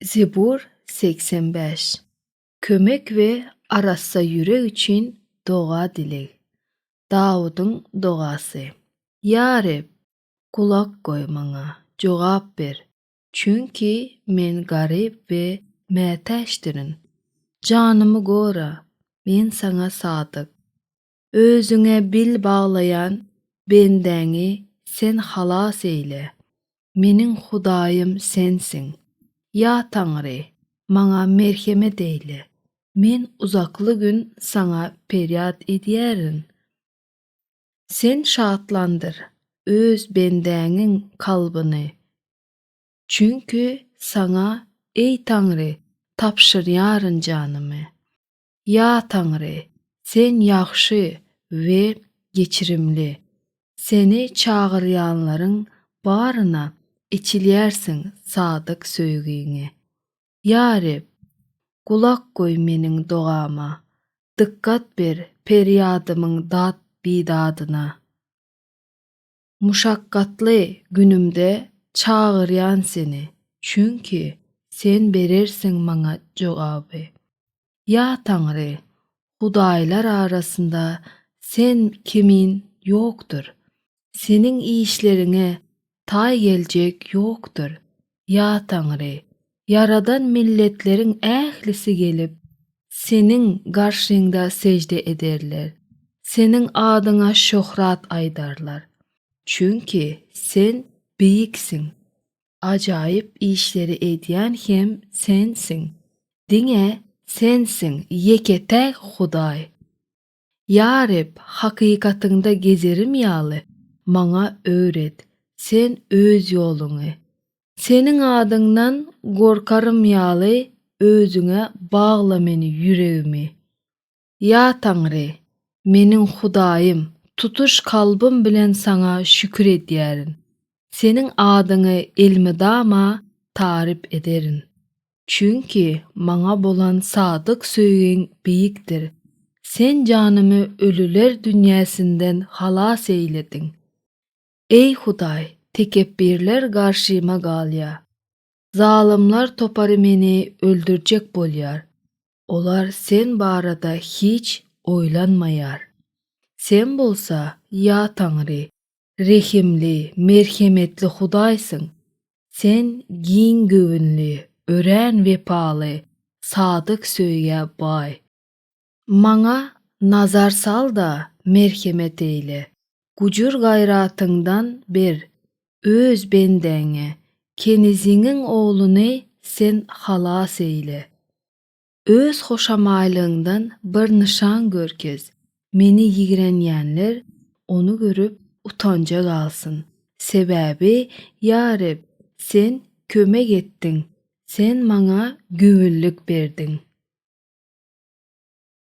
Zebur segsen bäş. Kömek we arassa ýürek üçin doga-dileg. Dawudyň dogasy. Ýa Reb, gulak goý maňa, jogap ber, çünki men garyp we mätäçdirin. Janymy gora, men Saňa sadyk. Özüňe bil baglaýan bendäňi Sen halas eýle. Meniň Hudaýym Sensiň. Ýa Taňry, maňa merhemet eýle. Men uzakly gün Saňa perýat edýärin. Sen şatlandyr Öz bendäňiň kalbyny. Çünki Saňa, eý Taňry, tabşyrýaryn janymy. Ýa Taňry, Sen ýagşy we geçirimli. Seni çagyrýanlaryň baryna eçilýärsiň sadyk söýgiňi. Ýa Reb, gulak goý meniň dogama, dykgat ber perýadymyň dat-bidadyna. Muşakgatly günümde çagyrýan seni, çünki Sen berersiň maňa jogaby. Ýa Taňry, hudaýlar arasynda Sen kimin ýokdur, Seniň işleriňe taý geljek ýokdur. ýa Taňry, ýaradan milletleriň ählisi gelip, Seniň garşyňda sežde ederler, Seniň adyňa şöhrat aýdarlar. Çünki Sen beýiksiň, ajaýyp işleri edýän hem Sensiň. Diňe Sensiň, ýeke-täk Hudaý. Ýa Reb, hakykatyňda gezerim ýaly, maňa öwret, Sen Öz ýoluňy. Seniň adyňdan gorkarym ýaly, Özüňe bagla meni, ýüregimi. Ýa Taňry, meniň Hudaýym, tutuş kalbym bilen Saňa şükür edýärin, Seniň adyňy elmydama taryp ederin. Çünki Maňa bolan sadyk söýgiň beýikdir. Sen janymy ölüler dünýäsinden halas eýlediň. Eý, Hudaý, tekepbirler garşyma galýar. Zalymlar topary meni öldürjek bolýar. Olar Sen barada hiç oýlanmaýar. Sen bolsa, ýa Taňry, rehimli, merhemetli Hudaýsyň, Sen giň göwünli, örän wepaly, sadyk söýgä baý. Maňa nazar sal-da, merhemet eýle, gujur-gaýratyňdan ber, Öz bendäňi, keniziňiň ogluny Sen halas eýle. Öz hoşamaýlygyňdan bir nyşan görkez, meni ýigrenýänler ony görüp utanja galsyn. Sebäbi, ýa Reb, Sen kömek etdiň, Sen maňa göwünlik berdiň.